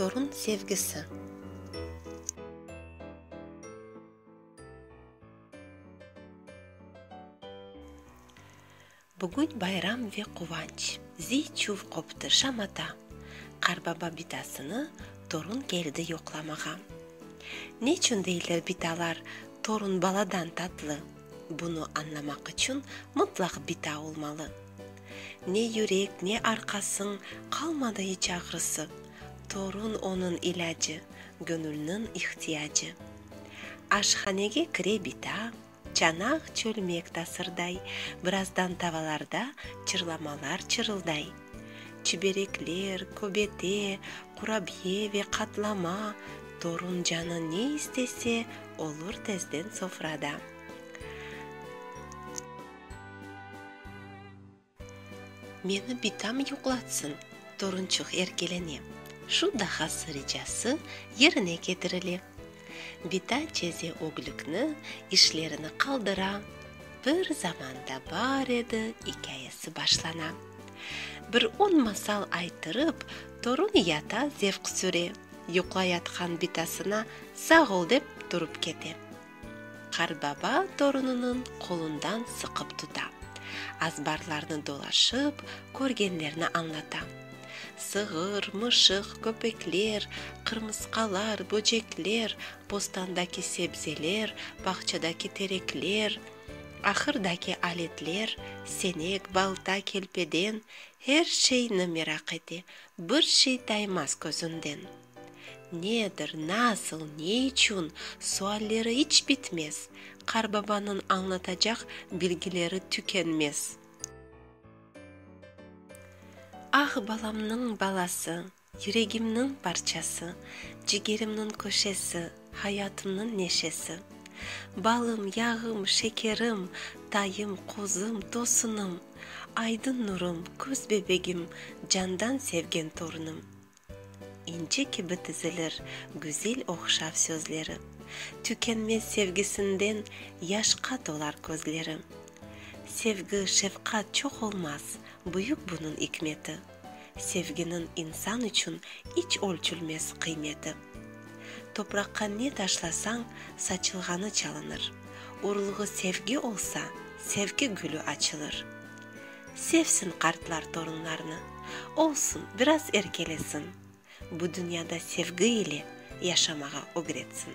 Torun sevgisi. Bugün bayram ve quvanç. Ziy-çuv qoptı şamata. Qarbaba bitasını torun keldi yoqlamağa. Neçün deyler bitalar torun baladan tatlı? Bunı añlamaq içün mıtlaq bita olmalı. Ne yürek, ne arqasıñ qalmadı iç ağrısı, Torun onıñ ilâcı, göñülniñ ihtiyacı. Aşhanege kire bita, çanaq çölmek tasırday, Birazdan tavalarda çırlamalar çırılday. Çiberekler, köbete, qurabiye ve qatlama, torun canı ne istese, olur tezden sofrada. Meni bitam yuqlatsın, torunçıq erkelene. Şu dahası ricası yerine ketirile. Bita ceze öglikni, işlerini qaldıra, bir zamanda bar edi ikâyesi başlana. Bir on masal aytırıp, torun yata zevq süre, yuqlayatqan bitasına sağ ol dep turıp kete. Qartbaba torunınıñ qolundan sıqıp tuta, azbarlarnı dolaşıp, körgenlerni añlata. Sığır, mışıq, köpekler, qırmısqalar, böcekler, bostandaki sebzeler, bağçadaki terekler, ahırdaki aletler, senek, balta, kelpeden, her şeyni meraq ete, bir şey taymaz közünden. Nedir, nasıl, ne içün, sualleri iç bitmez, qarbabanıñ añlatacaq bilgileri tükenmez. Ah, balamnıñ balası, yüregimniñ parçası, cigerimniñ köşesi, hayatımnıñ neşesi. Balım, yağım, şekerim, tayım, qozum, tosunım, aydın nurım, köz bebegim, candan sevgen torunım. İnci kibi tizilir güzel oqşav sözleri, Tükenmez sevgisinden yaşqa tolar közleri. Sevgi, şefqat çoq olmaz, büyük bunıñ ikmeti, Sevginiñ insan içün iç ölçülmez qıymeti. Topraqqa ne taşlasañ, saçılğanı çalınır, Urulğı sevgi olsa, sevgi gülü açılır. Sevsin qartlar torunlarnı, Olsun, biraz erkelesin, Bu dünyada sevgi ile Yaşamağa ögretsin.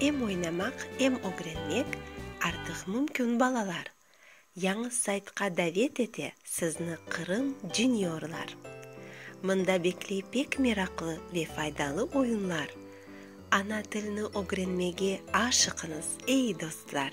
Em oynamaq, em ögrenmek artıq mümkün balalar. Yañı saytqa davet ete sizni Qırım Juniorlar. Mında bekley pek meraqlı ve faydalı oyunlar. Ana tilni ögrenmege aşıqıñız, ey dostlar!